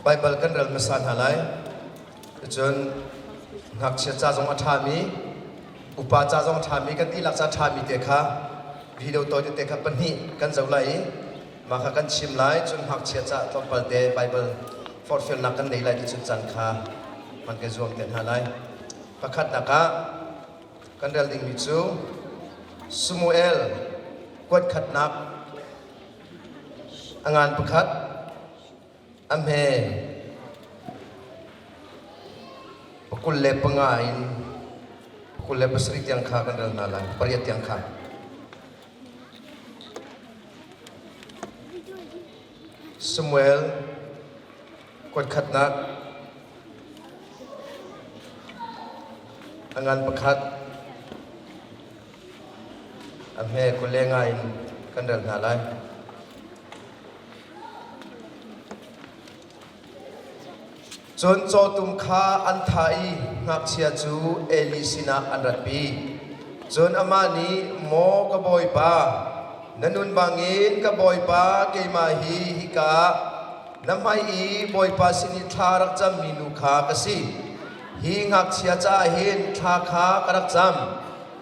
Baibal kan rel hmasa hna lai. Cun ngakchia ca zong a ṭhami, upa ca zong a ṭhami, kan dihlak ca a ṭhami te kha video tawi tete kha pahnih kan zoh lai i mah kha kan chim lai. Cun ngakchia ca tlawmpal te Baibal forhfialnak kan ngei lai ti cun caan kha hman kan zuam te hna lai. Pakhatnak ah kan rel dingmi cu Samuel kuat khatnak a ngan pakhat a hme pakul le panga in pakul le pasarih tiang kha kan rel hna lai pariat tiang kha Samuel kuatkhatnak a ngan pakhat a hme kule nga in kan rel hna lai. Cun cawtum kha an thah i ngakchia cu Eli sinah an ratpi. Cun amah nih, “Maw ka bawipa, na nun bangin ka bawipa keimah hi hika ah na hmai i Bawipa sin i thla rak cammi nu kha ka si. Hi ngakchia caah hin thla kha ka rak cam,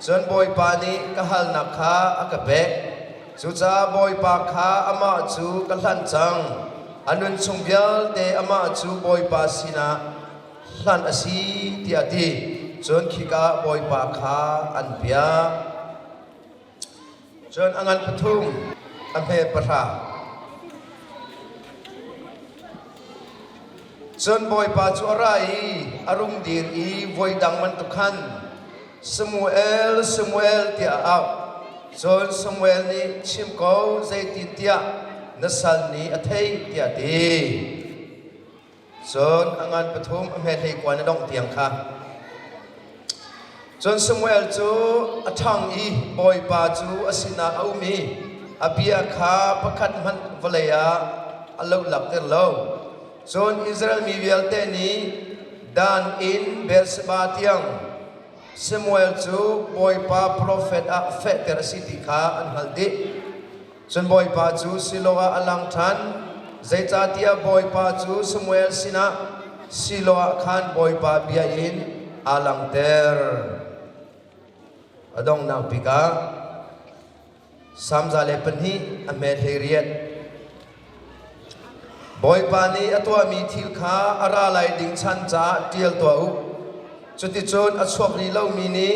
cun Bawipa nih ka halnak kha a ka pek. Cucaah Bawipa kha amah cu ka hlanh cang, a nunchung vialte amah cu Bawipa sinah hlanh a si tiah a ti. Cun khika ah Bawipa kha an piah. Cun a ngan pathum a hme pahra. Cun Bawipa cu a ra i a rung dir i voi dang bantuk khan Samuel, Samuel tiah a auh. Cun Samuel nih chim ko zeitintiah na sal nih a theih tiah ti. Cun a ngan pathum a hme hlei kuan a dongh tiang kha. Cun Samuel cu a ṭhang i bawipa cu a sinah a um i a bia kha pakhat hmanh vawlei ah a lo lak tir lo. Cun Israel mi vialte nih dan in Beersheba tiang Samuel cu Bawipa profet ah fehter a si ti kha an hngalh dih. Cun Bawipa cu Siloah ah a lang ṭhan, zeicahtiah Bawipa cu Samuel sinah Siloah khan Bawipa bia in aa langter. A donghnak bik ah, Samza le pahnih a hmet hlei riat. Bawipa nih a tuahmi thil kha a ra lai ding chan caah ṭial tuah u. Cuticun a chuak rih lomi nih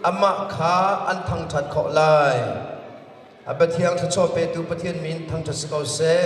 amah kha an thangṭhat khawh lai. A Pathian thluachuah petu Pathian min thangṭhat si ko seh.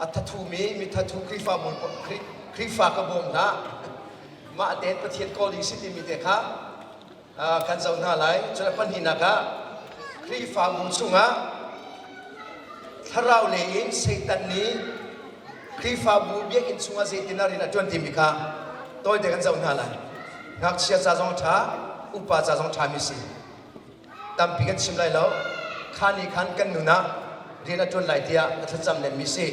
a thathum i mithathu Khrihfabu Khrihfa ka bawm hna. Mah tein Pathian kawl ding si timi te kha kan zoh hna lai. Cun pahnihnak ah Khrihfabu chungah thlarau lei in Satan nih Khrihfabu biakinn chungah zeitin a rian a ṭuan timi kha tawite kan zoh hna lai. Ngakchia ca zong ṭha, upa ca zong ṭhami si. tampi kan chim lai lo kha ni khan kan nun ah rian a ṭuan lai tiah ka thlacam lemmi si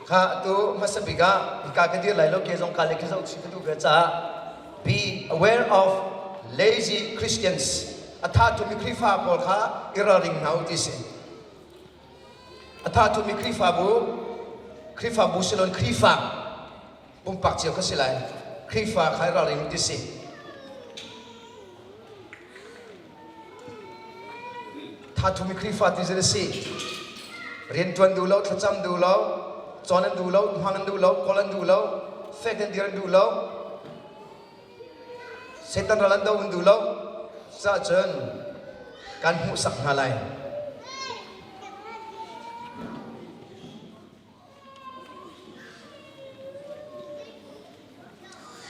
kha atu hmasa bik ah hika ka dir lai lo ke zong ka le ka zoh chih ka duh ve caah be aware of lazy christians a tha tumi Khrihfa pawl kha i ralring hna u ti si a tha tumi Khrihfabu Khrihfabu silon Khrihfa pumpak cio ka si lai Khrihfa kha ralring ti si thathumi Khrihfa ti zan si riantuan duh lo thlacam duh lo cawn an duh lo hmang an duh lo kawl an duh lo fek an dir an duh lo Satan ral an do an duh lo cah cun kan hmuhsak hna lai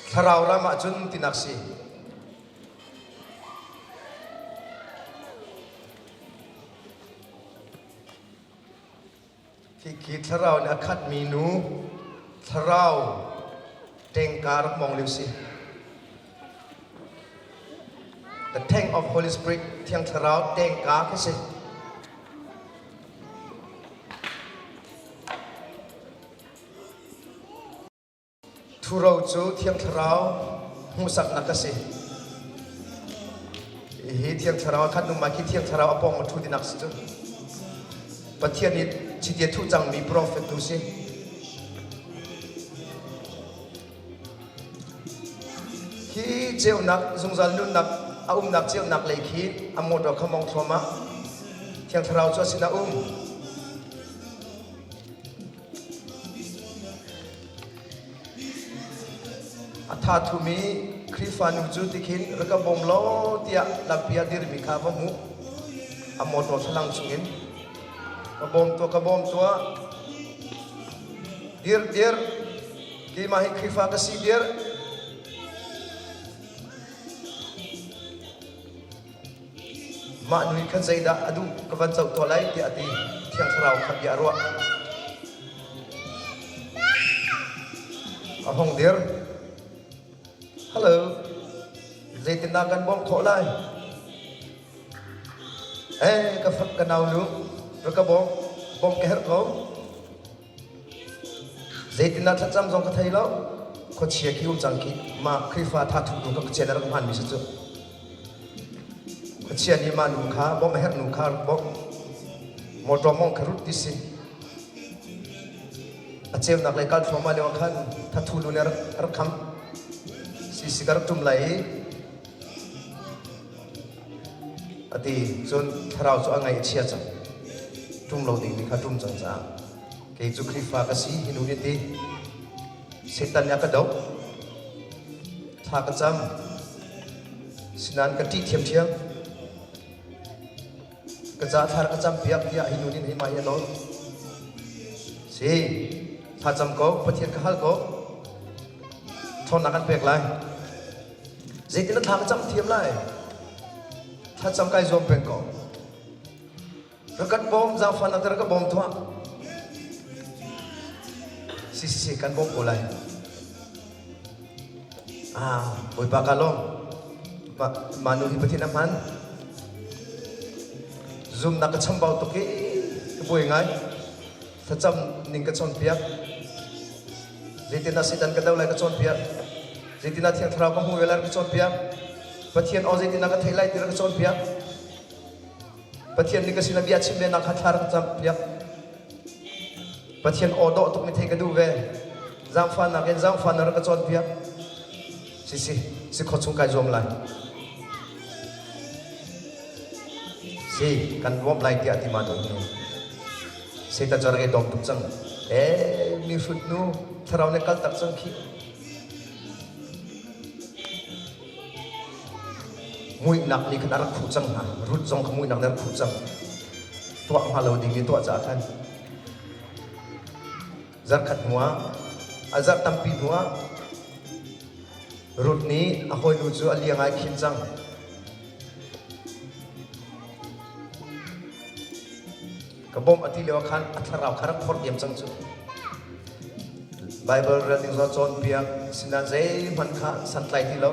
Thlarau ram ah cun tinak si. Khi thlarau in a khatmi nu thlarau tengka rak mong liu si. The Tank of Holy Spirit Thiang Thlarau tengka khi si. Thuro cu Thiang Thlarau hmuhsaknak ka si. Hi Thiang Thlarau khat numa khi Thiang Thlarau apong ma thu dinak si cu. Pathian nih chiti thu cangmi profet tu si. Hi ceunak zungzal nunnak a umnak ceunak lei khi a mawṭaw khamong thluamah Thiang Thlarau cu a sinah um. A tha thum i Khrihfa nu cu tikhin rak ka bawm law tiah lampi a dirmi kha va hmuh. A mawṭaw thlalang chungin ka bawm tuah ka bawm tuah. Dir dir Keimah hi Khrihfa ka si dir. Mah nu hi khan zeidah a duh ka van zoh tuah lai tiah a ti. Thiang thlarau kha bia a ruah. A hong dir. Hello. Zeitindah kan bawm khawh lai? Eh, ka fak ka nau lu. Ra ka bawm. Bawm ka herh ko. Zeitindah thlacam zong ka thei lo. Khuachia khi um cang ki mah Khrihfa thathu nu kha Pathian a rak hmanmi si cu. Khuachia nih mah nu kha bawmh a herh nu kha rak bawmh. Mawṭaw mawngh kha rut ti si. A ceunak le kal thluahmah lio khan thathu nu nih a rak, a rak kham. Si si ka rak ṭum lai i a ti cun thlarau cu a ngaih a chia cang ṭum lo dingmi kha ṭum cang caah kei cu Khrihfa ka si hi nu hi ti Satan nih a ka doh thla ka cam sinain ka ṭih ṭhiamṭhiam ka ca thlar ka campiak tiah hi nu nih mah hi a nawl si thlacam ko Pathian ka hal ko ṭhawnnak kan pek lai Zeitin na thla ka cam thiam lai? Thlacam kai zuam peng ko. Rakat bawm zaufan nak rak ka bawm thuah. Si si si kan bawm ko lai. Ah, Bawipa ka lawm. Ma, manu hi pathin a hman. Zoom na ka chambau tuk i ka buai ngai. Facam ning ka cawnpiak. Zeitin ah Satan ka do lai ka cawnpiak. Zeitin ah Thiang Thlarau ka hmu ve lai ka cawnpiak. Pathian aw zeitin ah ka theih lai ti ka cawnpiak. Pathian ning ka sin bia chim ve nak kha thla ka campiak. Pathian aw dawh tuk mi thei ka duh ve. Zaangfan nak in zaangfan na ka cawnpiak. Si si si kho chung kai zuam lai. Si kan luam lai tiah ti ma dong hi. Satan cu a rak i dawm tuk cang. Eh, mihrut nu, thlarau nih kaltak cang khi. Muihnak nih khan a rak khuh cang hna. Rut zong kha muihnak nih a rak khuh cang. Tuah hnga lo ding i tuah caah khan. Zarkhat hnu ah, a zarh tampi hnu ah, Rut nih a hawinu cu a lia ngai khin cang. Ka bawmh a ti lio ah khan a thlarau kha rak phorh diam cang cu. Baibal rel ding zong cawnpiak sinah zeihmanh kha santlai ti lo.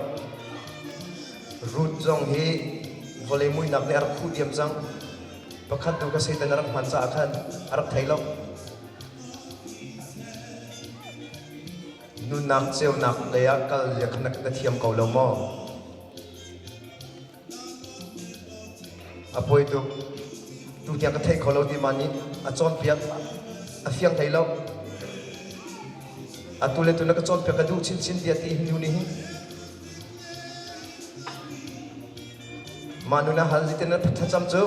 Ruth zong hi vawlei muihnak nih a rak khuh diam cang. Pakhat tu kha Satan a rak hman caah khan a rak thei lo. Nunnak ceunak lei ah kal le khan na thiam ko lo maw? A poi tuk. Tu tiang ka theih kho lo ti man in a cawnpiak a fiang thei lo. Atu le tu na ka cawnpiak ka duh chinchin tiah ti hindu nih hin. Mah nu na hal ziten na thlacam cu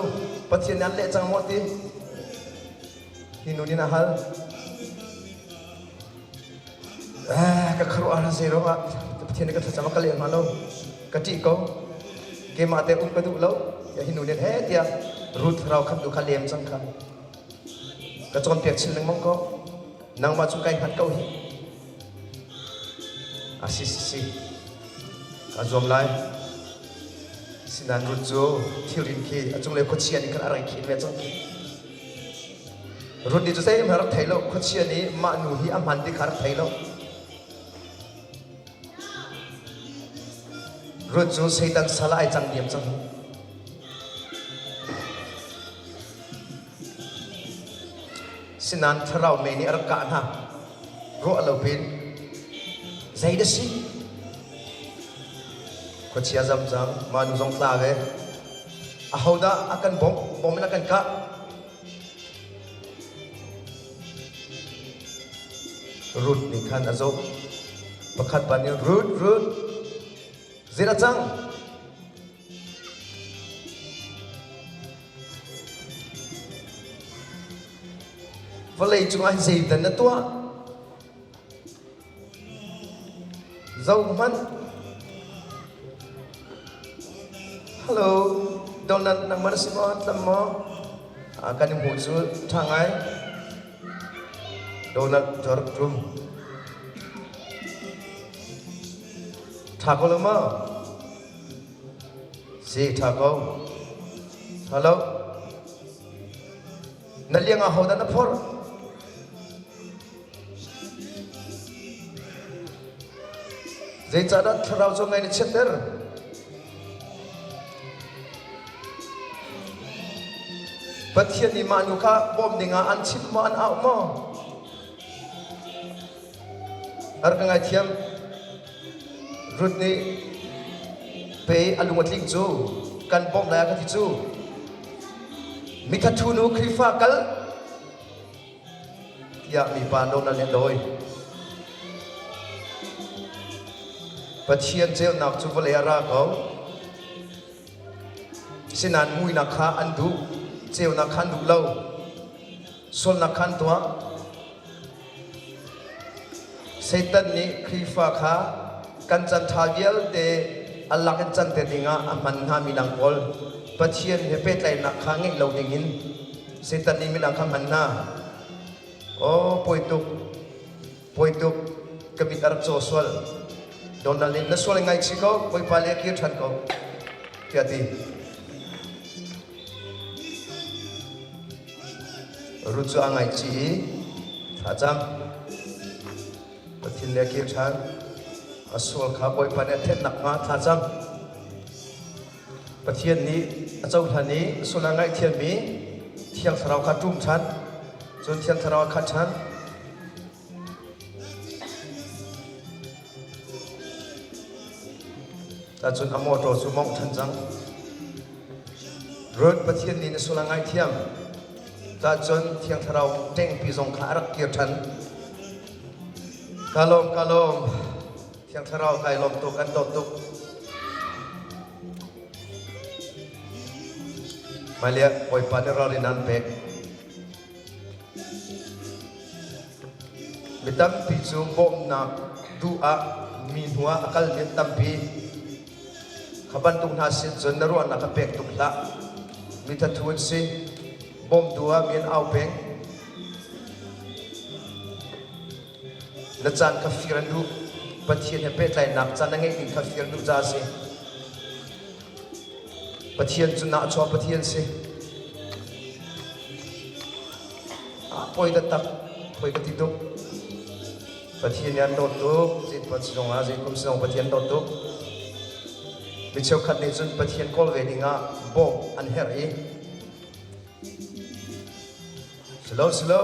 Pathian nih an leh cang maw ti. Hi nu nih na hal. ka khuaruah hna zeiruangah Pathian nih ka thlacam ah ka leng hnga lo ka ṭih ko keimah te um ka duh lo tiah hinu nih he tiah Ruth rau khat nu kha lem cang kha ka cawnpiak chin lengmang ko nangmah cu kai hngat ko hi a si si si ka zuam lai sinain Ruth cu thilrin khi a cunglei khuachia nih khan a rai khin ve cang khi Rundi cu zeihmanh a rak thei lo. Khuachia nih mah nu hi a hman ti kha a rak thei lo. Ruth cu Satan sal ah ai cang diam cang. Sinan thlarau mei nih a rak kah hna. Ruah lo pin, zei da si? Khuachia zamzam, manu zong tla ve. Ahodah a kan bawmh? Bawm in a kan kah. Ruth nih khan a zoh. Pakhat ban in Ruth, Ruth, zir a cang. Vawlei cungah zeidan na tuah? Zohhmanh! Hello, donut na mar si maw tlam maw? Ah, kan i hmuh cu ṭha ngai. Donut cu rak ṭum. Ṭha ko lo maw? Si, ṭha ko. Hello. Na liang ah hodah na phorh? Zeicahdah thlarau cu ngaih na chiatter? Pathian nih mah nu kha bawm dingah an chimh maw an auh maw? Ar ka ngaithiam. Rut nih pe a lung a tling cu kan bawmh lai a ka ti cu. Mithathu nu Khrihfa kal tiah mipa nonal nih a dawi. Pathian ceunak cu vawlei ah ra ko. Sinain muinak kha an duh, ceunak kha an duh lo. Sulnak khan tuah. Satan nih Khrihfa kha kan can ṭha vialte an lak in can te ding ah a hman hna midang pawl Pathian he pehtlaihnak kha ngeih lo ding in Satan nih midang kha hman hna. Aw, pawi tuk. Poituk ka mit a rak caw sual. Donald nih na sual ngai chih ko, Bawipa le kir ṭhan ko, tiah ti. Ruth cu a ngaichih i thlacam. Pathin le kir ṭhan. A sual kha Bawipa nih a thenh nakhnga thlacam. Pathian nih a cohlan i sul a ngaihthiammi thiang thlarau kha ṭum ṭhan. Cun thiang thlarau a khat ṭhan. Tahcun a mawṭaw cu mawngh ṭhan cang. Rod Pathian nih na sul a ngaihthiam. Tahcun thiang thlarau ṭengpi zong kha a rak kir ṭhan. Ka lawm, ka lawm. Thiang Thlarau kai lawm tuk an dawt tuk. Hmailei Bawipa nih ral in an pek. Mi tampi cu bawmhnak duh ah mi hnu ah a kalmi an tampi. Kha bantuk hna sin cun na ruahnak ka pek tuk hlah. Mi thathu an si. Bawm du ah mi an au peng. Na caan kha fir an duh. Pathian he pehtlainak caan na ngeih ning kha fir duh caah a si. Pathian cu nahchuah Pathian si. Ah, poi ka tak, poi ka ti tuk. Pathian nih an dawt tuk. Zeipa sinong ah, zeikum sinong Pathian dawt tuk. Mi cheukhat nih cun Pathian kawl ve ding ah bawmh an herh i Si lo, si lo.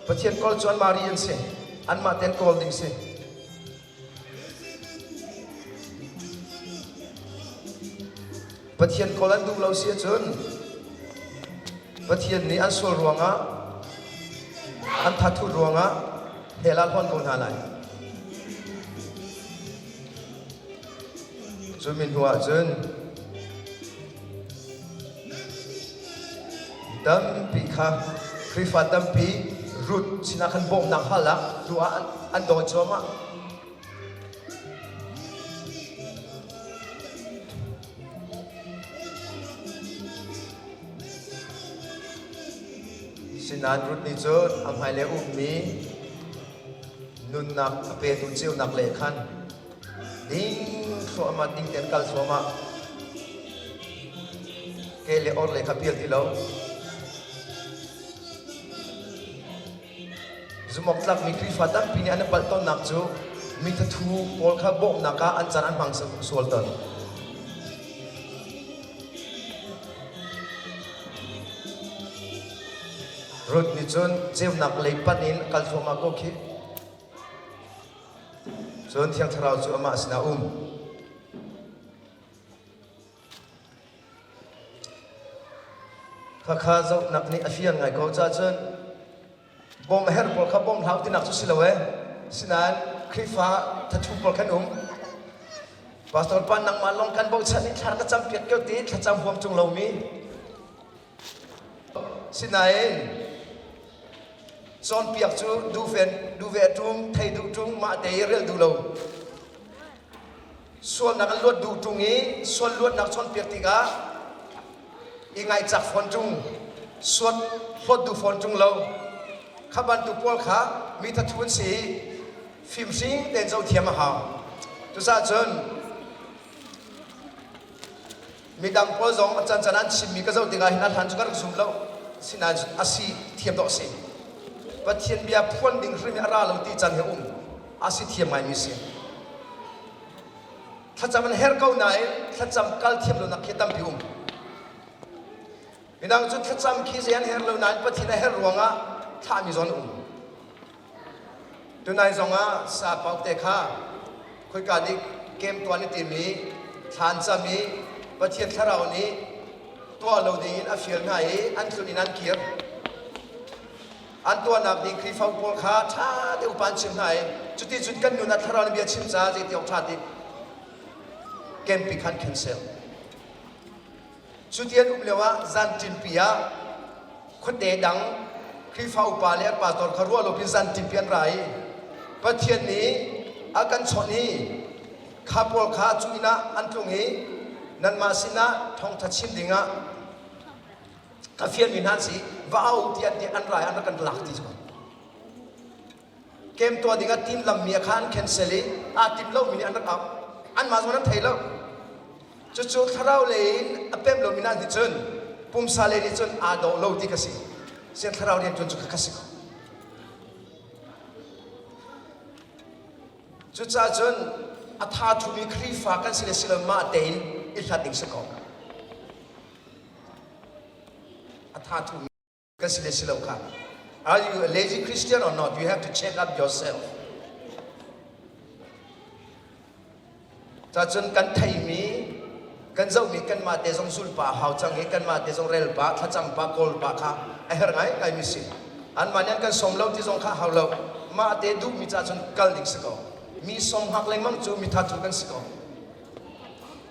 Pathian kawl cu anmah ri an si. Anmah tein kawl ding si. Pathian kawl an duh lo si ahcun Pathian nih an sual ruangah an thathut ruangah hell ah hlawn ko hna lai. Cu mi hnuah cun mi tampi kha Khrihfa tampi Ruth sinah khan bawmhnak hal ah lu ah an, an daw cuahmah. Sinain Ruth nih cun a hmailei ummi nunnak a petu ceunak leh khan Ning thluahmat ding tein kal zuam ah ke le orle kha phil ti lo. Zumawktlakmi Khrihfa tampi nih an i palh tonnak cu mithathu pawl kha bawmhnak ah an can an hmang sual ton. Ruth nih cun ceunak lei panh in kal thluahmah ko khi. Cun Thiang Thlarau cu amah sinah a um. Khakha zohnak nih a fian ngai ko caah cun bawm a herh pawl kha bawm hlau tinak cu si lo ee. Sinain Khrihfa thathum pawl kan um. Pastor pa nangmah lawng kan bochan i thlar ka campiak kio ti thlacam huam ṭung lomi Sinain cawnpiak cu duve duve ṭum thei duh ṭung mahte i relh duh lo sualnak an luat duh ṭung i sual luatnak cawnpiak tikah i ngaihcak fawn ṭung suat hlawt duh fawn ṭung lo kha bantuk pawl kha mi thathu an si i fimhring tein zoh thiam a hau cucaah cun midang pawl zong can can an chimmi ka zoh tikah hin a hlan cu ka rak zum lo sinain a si thiam dawh a si pathian bia phuan ding hrim a ra lo ti can he um a si thiam ngaimi a si thlacam an her ko nain thlacam kal thiam lonak khi tampi um midang cu thlacam khi zei an her lo nain pathian a her ruangah thlahmi zawn um Tunai zongah sapauk te kha khoika nih kem tuan i tim i thlan cam i Pathian thlarau nih tuah lo dingin a fial hna i an tlun in an kir. An tuahnak nih Khrihfa pawl kha ṭha te upa an chim hna i cuti cun kan nun ah thlarau nih bia chim caah zei ti awk ṭha ti kem pi khan khan sel. Cuti an um lioah zanṭinpi ah khuate dang Khrihfa upa le an pa tor kha ruah lopi zanṭinpi an ra i Pathian nih a kan chawnh hi kha pawl kha cu inn ah an tlung i nanmah sinah thawngṭha chim dingah ka fianmi hna an si va au tiah an ti an ra i an rak kan lak ti cu game tuah dingah tiin lammi ah khan an cancel i aa timh lomi nih an rak auh anmah zong an thei lo cucu thlarau lei in a pem lomi hna nih cun pumsa lei nih cun aa dawh lo ti ka si sian thlarau rian ṭuan cu ka si ko cucaah cun a tha thumi Khrihfa kan si le si lo mah tein i hlat ding si ko a tha thumi Ka si le si lo kha. Are you a lazy Christian or not? You have to check up yourself. Cacun kan theimi kan zohmi kanmah te zong zulpa hau cang i kanmah te zong relpa thlacang pa kawlpa kha a her ngai ngai mi si anmah nih an kan som lo ti zong kha hau lo mah te duhmi ca cun kal ding si ko mi som hak lengmang cu mi thathu kan si ko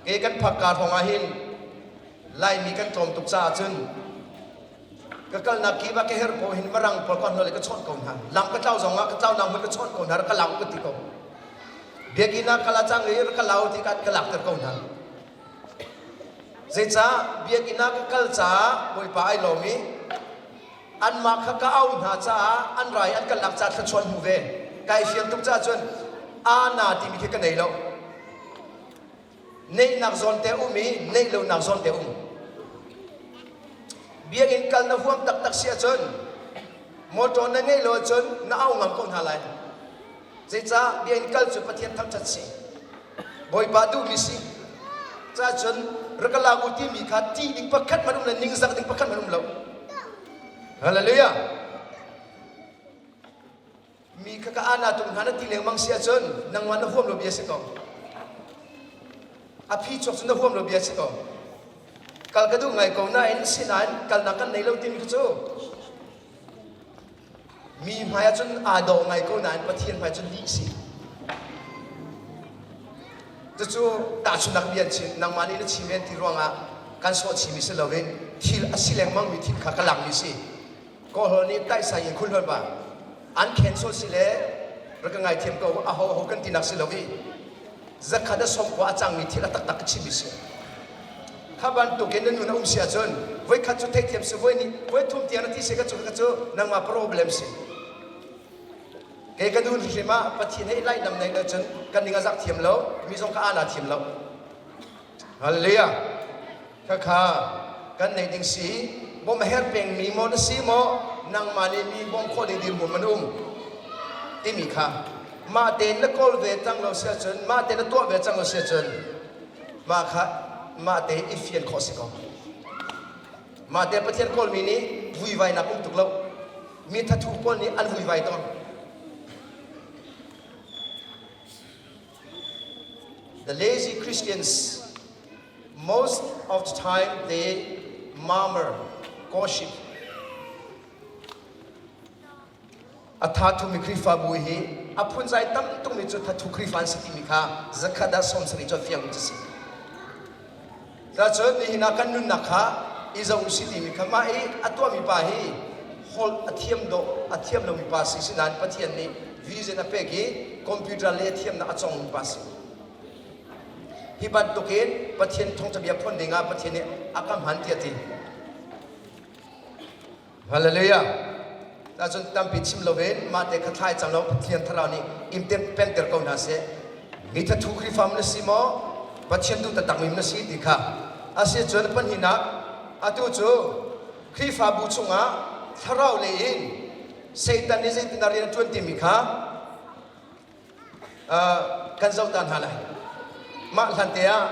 ke kan phakka hrawng ah hin Laimi kan ṭawl tuk caah cun ka kalnak kip ah ka herh pawl hin marang pawl ka hnawle ka chawnh ko hna lam ka tlau zong ah ka tlau nang hmanh ka chawnh ko hna rak ka lau ka ti ko biakinn ah kala cang i rak ka lau ti ka lakter ko hna zeicah biakinn ah ka kal caah bawipa ai lawm i anmah kha ka au hna caah an rai an kalnak ca thluachuan hmu ve kai fian tuk caah cun a na timi khi ka nei lo neihnak zawnte um i neih lonak zawnte um biakinn kal na huam taktak si ahcun motor na ngeih lo ahcun na au ngam ko hna lai zeicah biakinn kal cu pathian thangṭhat si bawipa duhmi si cahcun rakalabu timi kha ṭih ding pakhat hmanh um lo ningzak ding pakhat hmanh um lo halleluja mi kha ka ana tum hna na ti lengmang si ahcun nangmah na huam lo bia si ko a phi chuak cu na huam lo bia si ko kal ka duh ngai ko nain sinain kalnak kan nei lo timi kha cu mi hmai ahcun aa do ngai ko nain pathian hmai cun lih si cucu tahchunnak bia chin nangmah nih na chim ven ti ruangah kan sawh chimi si lo in thil a si lengmangmi thil kha ka langmi si Kawlhawl nih taisa in khulhol pa an khen sawt si le rak ka ngaithiam ko aho ho kan tinak si lo i zakhat a som khua a cangmi thil a taktak ka chimmi si kha bantuk in na nun a um si ahcun voikhat cu theithiam si voi nih voi thum tiang na ti si ka cu ka cu nangmah problem si kei ka dun hrim ah pathian ei lai lam nei lo cun kan ning a zak thiam lo mi zong ka ana thiam lo Halleluja. Khakha kan nei ding si bom her peng mi mo na si mo nangma le mi bom kho ding dir bom an um timi kha ma ten na kol ve cang lo sia cun ma ten na tuah ve cang lo sia cun ma kha ma te i fian kho si ko ma te pathian kawl mi nih vui vai na pum tuk lo mi thathu pawl nih an vui vai to The lazy Christians, most of the time, they murmur, gossip. Atha thumi Krifabu hi a phun zai tam tumi cu thathu Krifa an si timi kha zakhat ah som sani cu fiang cu si. Zacun nihin ah kan nunnak kha i zo u sih timi kha mah i a tuahmi pa hi hol a thiam dawh a thiam lomi pa si si nain Pathian nih vision a pek i computer le a thiamnak a congmi pa si. Hi bantukin Pathian thawngṭhabia phun dingah Pathian nih a ka hman tiah ti. Hallelujah. Ahcun tampi chim loin mahte kha thlai cang lo Pathian thlarau nih imter pengter ko hna seh. Mi thathu Khrihfa na si maw? Pathian tu taktakmi na si ti kha. Asi cun pahninak atu cu Khrihfabu chungah thlarau lei in Satan nih zeitin a rian ṭuan timi kha kan zoh ta hna lai mah hlante ah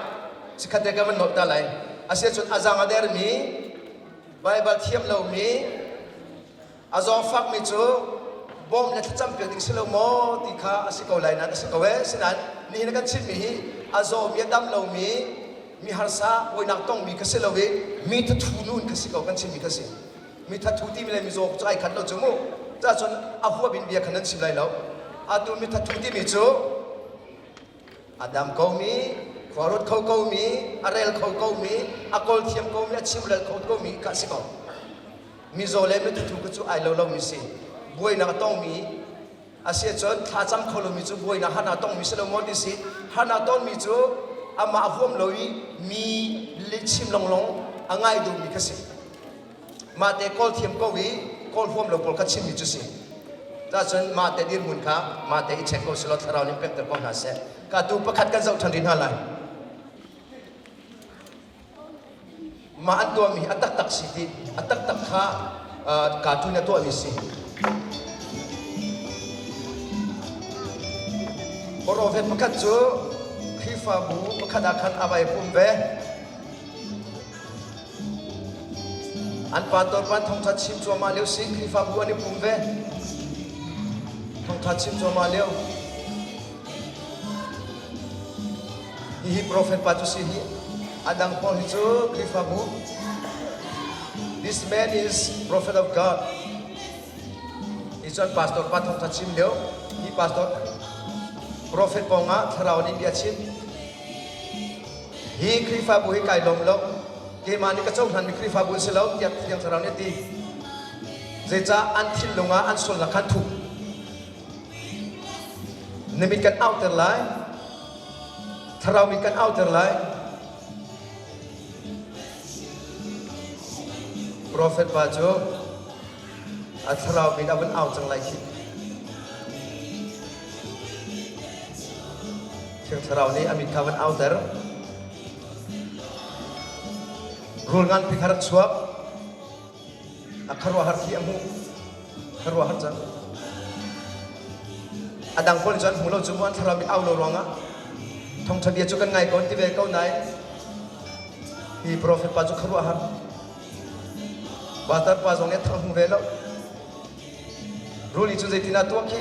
sikhatte kan van nolh ta lai asicun a zaang a dermi baibal thiam lomi a zawngfakmi cu bawm le thlacam piak ding si lo maw ti kha a si ko lai nan a si ko ee sinain nihin kan chimmi hi a zawmi a dam lomi mi harsa buainak tongmi ka si lo i mi thathu nu in ka si ko kan chimmi ka si mi thathu ti mi le mizaw cu ai khat lo cu mu cahcun a huap in bia khan an sim lai lo atu mi thathu ti mi cu a dam ko mi khuarut kho ko mi a rel kho ko mi a kol thiam ko mi a chimrel kho ko mi ka si ko mizaw le mi thathu cu ai lo lo mi si buainak a tong mi Asicun thlacam kho lomi cu buainak han aa tongmi si lo maw ti si. Han aa tongmi cu amah a huam lo i mi lihchim lawnglawng a ngai duhmi kha si. Mahte kawl thiam ko i kawl huam lo pawl kha chimmi cu si. Cahcun mahte dirhmun kha mahte i check ko selaw thlarau nih pekter ko hna seh. Ka tu pakhat kan zoh ṭhan rih hna lai. Mah an tuahmi a taktak si ti a taktak kha uh, cartoon a tuahmi si. Korovet pakhat cu Khrihfabu pakhat ah khan a vai pum ve. An pa torpan thongthat chim cuahmah leo si Khrihfabu an i pum ve. Thongthat chim cuahmah leo. Hihi profet pa cu si hi a dang pawl hi cu Khrihfabu This man is prophet of God. Hi cu an pastor pa thawngtha chim lio hi pastor profet pawngah thlarau nih bia chim. Hi Khrihfabu hi kai lawm lo. Keimah nih ka cohlanmi Khrihfabu an si lo tiah Thiang Thlarau nih a ti. Zeicah an thinlung ah an sulnak kha an thuh? Na mit kan auter lai. Thlarau mit kan auter lai. Profet pa cu a thlarau mit a vun au cang lai khi. Thiang thlarau nih a mit kha van auter. Rul ngan pi kha rak chuak. A khuaruahhar khi a hmuh. Khuaruahhar cang. A dang pawl cu an hmu lo cu mu an thlarau mit au lo ruangah thawngṭha bia cu kan ngai ko an ti ve ko nain hi profet pa cu khuaruahhar. Vatar pa zong nih a thang hmu ve lo. Ruli cu zeitinah tuah khi?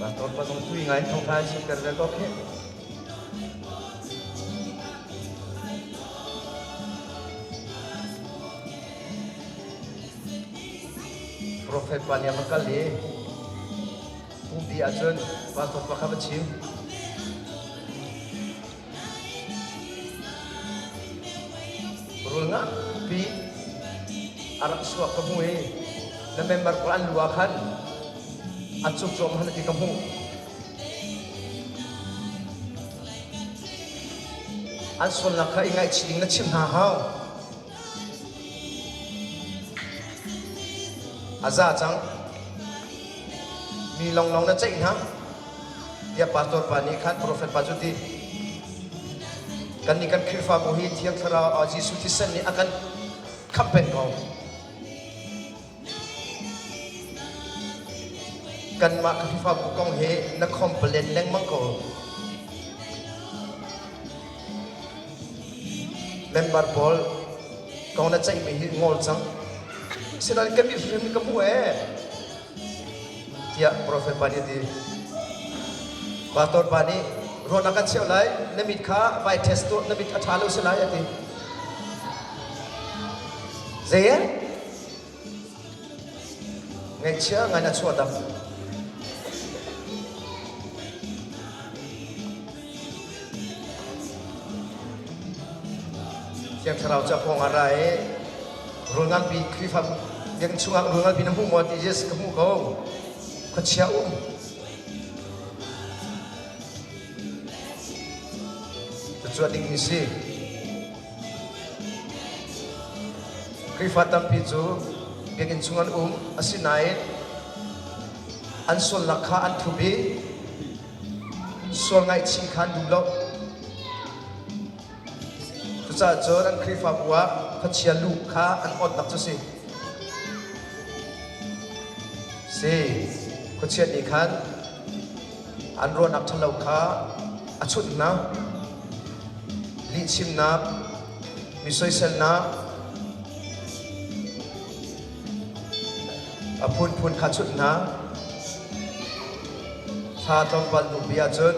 Bator pasong tui ngai thong khai sut kar ve ko kheh. Prophet pa nih a van kal i pumpi ahcun pastor pakhat a chim. Rulngak pi a rak suak ka hmu i na member pawl an lu ah khan a cukcawm han ti ka hmuh. An sualnak kha i ngaihchih ding na chimh hna hau. A za cang. Mi lawnglawng na ceih hna. Tiah pastor pa nih khan profet pa cu ti kannih kan Khrihfabu hi Thiang Thlarau Jesuh thisen nih a kan khamhpenh ko. Kanmah ka Khrihfabu kong hi na complain lengmang ko. Member pawl kong na ceihmi hi ngol cang. Sinain kan nih hrim nih ka hmuh ee. Tiah profet pa nih a ti. Pastor pa nih ruah na kan cheuh lai, na mit kha vai test tuah, na mit a ṭha lo si lai a ti. Zei eh? Ngaihchia ngai na chuah dang. Thiang Thlarau cu a pawng ah ra i rul nganpi Khrihfa biakinn chungah rul nganpi na hmuh maw ti Jesus ka hmu ko khuachia um cucu a dingmi si Khrihfa tampi cu biakinn chung an um asinain an sualnak kha an thup i sual ngaihchih kha an duh lo. Cucaah cun an Khrihfabu ah khuachia lu kha an awtlak cu si. Si, khuachia nih khan an ruahnak ṭhalo kha a chunh hna. Lihchimnak, mi soiselnak, A phunphun khachuhnak thla tlawmpal hnu bia cun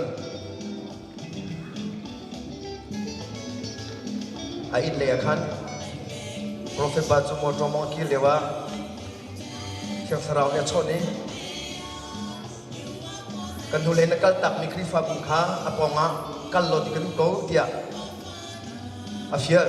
a inn lei ah khan Profet pa cu mawṭaw mawng a kir lio ah Thiang Thlarau nih a chawnh i kan hnulei na kaltakmi Khrihfabu kha a pawngah kal law ti kan um ko tiah a fial.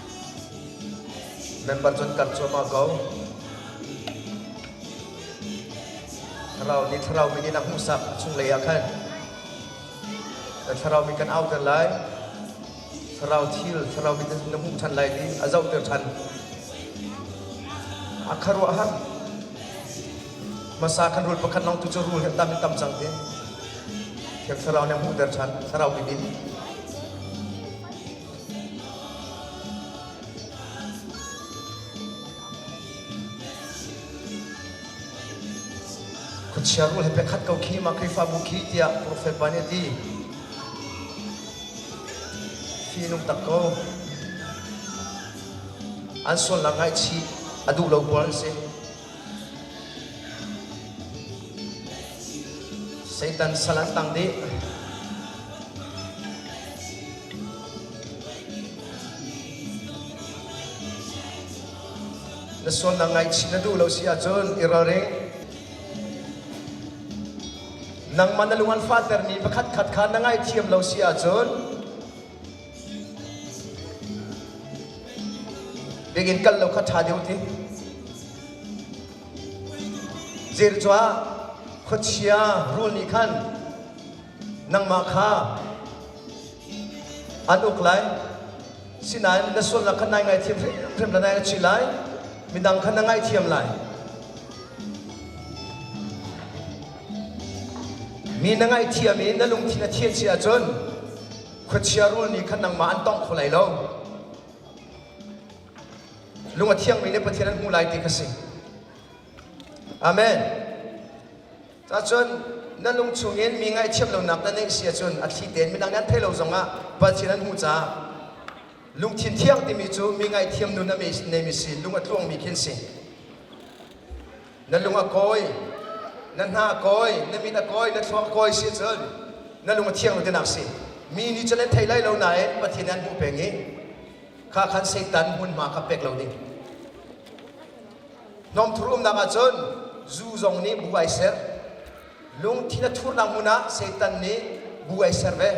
Member cun kan cuahmah ko. Thlarau nih thlarau min in a hmuhsak chunglei ah khan na thlarau min kan auter lai. Thlarau thil thlarau min na hmuh ṭhan lai ti a zohter ṭhan. A khuaruahhar. Hmasa kan rul pakhat long tu cu rul he tam in tam cang ti. Thiang thlarau nih a hmuhter ṭhan thlarau min in. Khuachia rul he biakhat ko khi mah Khrihfabu khi tiah profet pa nih a ti. Fi nung tak ko. An sualnak ngaihchih a duh lo pawl an si. Satan sal an tang dih. Na sualnak ngaihchih na duh lo si ahcun i ralring. Nangmah na lung an fahtermi pakhatkhat kha na ngaihthiam lo si ahcun Biakinn kal lo kha ṭha deuh ti. Zir cuah khuachia rul nih khan nangmah kha an uk lai. Sinain na sualnak kha nai ngaihthiam hrimhrim la nai a chi lai. Midang kha na ngaihthiam lai. Mi na ngaihthiam i na lungthin a thianh si ahcun Khuachia rul nih khan nangmah an tongh kho lai lo. Lung a thiangmi le Pathian an hmuh lai ti kha si. Amen. Cahcun na lung chungin mi ngaihthiam lonak na neih si ahcun a thli tein midang nih an theih lo zongah Pathian an hmuh caah lungthin thiang timi cu mi ngaihthiam nun a neimi si lung a tluangmi khi an si. na lung a kawi na hna a kawi na mit a kawi na thluang a kawi si cun na lung a thiang lo tinak si mi nih cun an thei lai lo nain pathian an hmuh peng i kha khan seitan hmunhma kha pek lo ding hnawmthur umnak ahcun zu zong nih bu ai ser lungthin a thurnak hmun ah seitan nih bu ai ser ve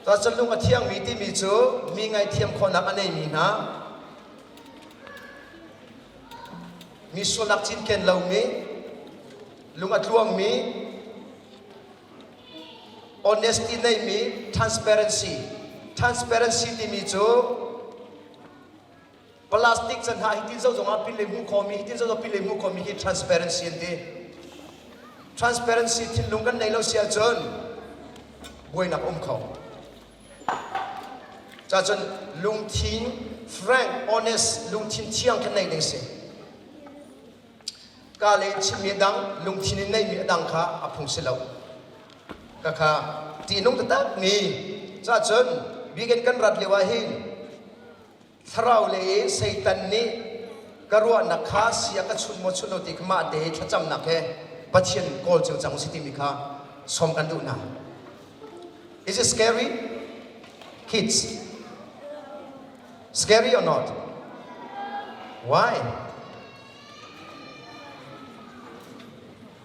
Cuacun lung a thiangmi timi cu mi ngaihthiam khawhnak a neimi hna, mi sualnak cinken lomi, lung a tluangmi, honesty neimi, transparency. Transparency timi cu plastic can hna hitin zo zongah pin le hmu khomi hitin zo zong pin le hmu khomi hi transparency an ti transparency thinlung kan nei lo si ahcun buainak um kho cacun lungthin frank honest lungthin thiang kan nei ding si ka le chimmi dang lungthin in neimi a dang kha a phung si lo ka kha tihnung tatak ni cacun bigen kan rat lio ah hin thlaraule i Satan nih ka ruahnak kha sia ka chunh maw chunh lo ti mah te hi thlacamnak he Pathian kawl cio cang si timi kha sawm kan duh hna. Is it scary? Kids, scary or not? Why?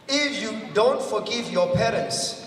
If you don't forgive your parents,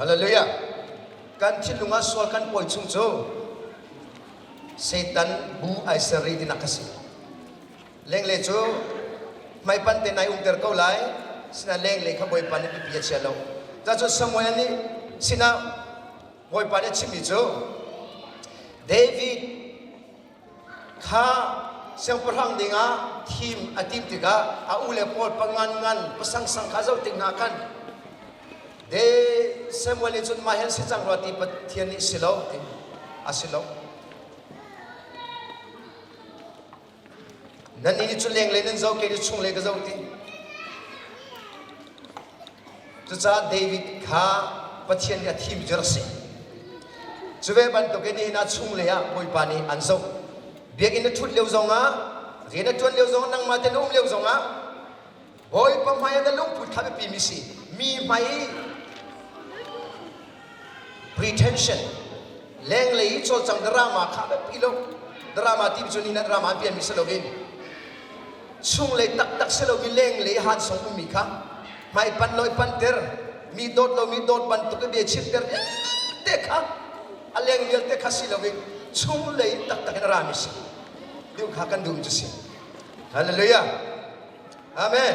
Hallelujah. Kan thinlung ah sual kan pawi chung cu Satan bu ai serri tinak ka si. Lengle cu hmaipan te nai umter ko lai sina lengle kha Bawipa nih pipi a chia lo. Cacun Samuel nih sinah Bawipa nih a chimmi cu David Kha siangpahrang dingah thim a timh tikah a u le pawl pangan ngan pasangsang kha zoh tik hna khan de Samuel nih cun mah hi an si cang rua ti Pathian nih si lo a si lo. Nannih nih cun lenglei nan zoh kei cu chung le ka zoh ti. Cucaah David kha Pathian nih a thim cu rak si. Cu ve bantukin nihin ah chunglei ah Bawipa nih an zoh. Biakinn na ṭhut lio zongah, rian na ṭuan lio zongah, nangmah te na um lio zongah Bawipa hmai ah na lungput kha biapimi si. Mi hmai pretension lenglei i cawlcang drama kha biapi lo drama ti cu ni na drama an pianmi si loin chung le taktak si loin lenglei han sung ummi kha hmai pan loi panter mi dawt lo mi dawt bantuk i bia chim ter te kha a leng vialte kha si loin chung lei taktak in rami si deu kha kan dum cu si hallelujah amen